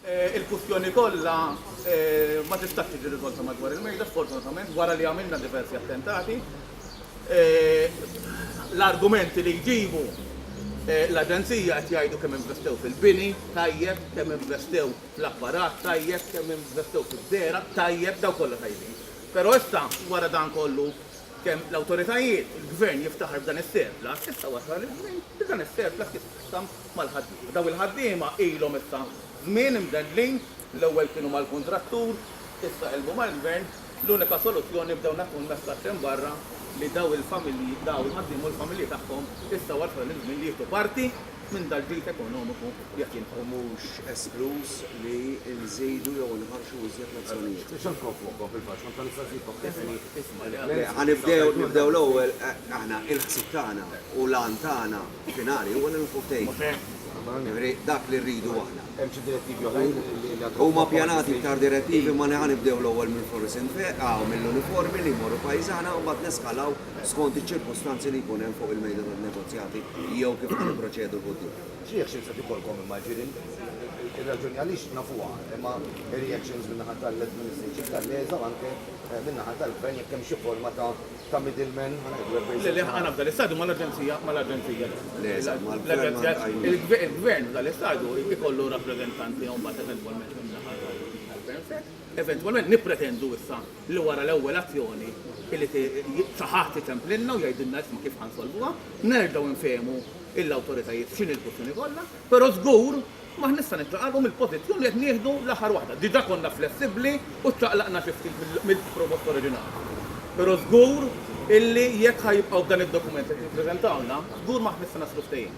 Il-kwistjoni kollha ma tistax tiġi riżolta madwar il-mejda, sfortunatament, wara li għamilna diversi attentati. L-argumenti li jġibu l-Aġenzija qed jgħidu kemm investew fil-bini tajjeb, kemm investew fl-apparat tajjeb, kemm investew fiż-żergħa tajjeb, dawn kollha tajbin. Però issa, wara dan kollu, kemm l-awtoritajiet, il-Gvern jiftaħar b'dan is-surplus, issa wasal iż-żmien Li dan is-surplus jitqassam mal-ħaddiema. Dawn il-ħaddiema ilhom issa żmien imdendlin, l-ewwel kienu mal-kuntrattur, issa qilbu mal-Gvern, l-unika soluzzjoni b'dawn qed tkun messaġġ hemm barra li dawn il-familji, dawn il-ħaddiema u l-familji tagħhom issa wasal iż-żmien li jieħdu parti minn dal-ġid ekonomiku li qed jinħawl. U mhux eskluż li nżidu jew inħarrxu iżjed lezzjonijiet. Ħa nibdew, nibdew l-ewwel aħna il-ħsieb tagħna u l-għan tagħna finali huwa li nilħqu ftehim. Jiġifieri dak li rridu aħna. Hemm xi direttivi oħrajn li għad. Huma pjanati iktar direttivi ma ħa nibdew l-ewwel mill-flus infeq, aw mill-uniformi li jmorru pajjiżana u mbagħad neskalaw skont iċ-ċirkustanzi li jkun hemm fuq il-mejda tan-negozjati jew kif ħa nipproċedu 'l quddiem. X'reactions qed ikollkom imma jiġifieri ir-raġuni għaliex nafuha imma ir-reactions min-naħa tal-administration tal-LESA u anke min-naħa tal-Gvern jekk hemm xi forma ta' middleman, ħa ngħidu hekk bejn żewġ naħat. Le, le, ħa ngħid f'dan l-istadju ma' l-Aġenzija, ma' l-Aġenzija. Le, eżatt, mal-Gvern ma' l-Gvern. Il-Gvern f'dan l-istadju jkollu rappreżentant tiegħu mbagħad eventwalment min-naħa tal-Gvern stess. Eventwalment nippretendu issa li wara l-ewwel azzjoni li xi ħadd itemplilna u jgħidilna isma' kif ħa nsolvuha, nerġgħu nfehmu l-awtoritajiet x'inhi l-kwistjoni kollha, però żgur, Ma nista' niċċaqalqu mill-pożizzjoni li qed nieħdu l-aħħar waħda. Diġà konna flessibbli u ċċaqlaqna xi ftit mill-proposta oriġinali. Però żgur illi jekk ħa jibqgħu b'dan id-dokument li qed jippreżentawlna, żgur m'aħna se naslu ftehim.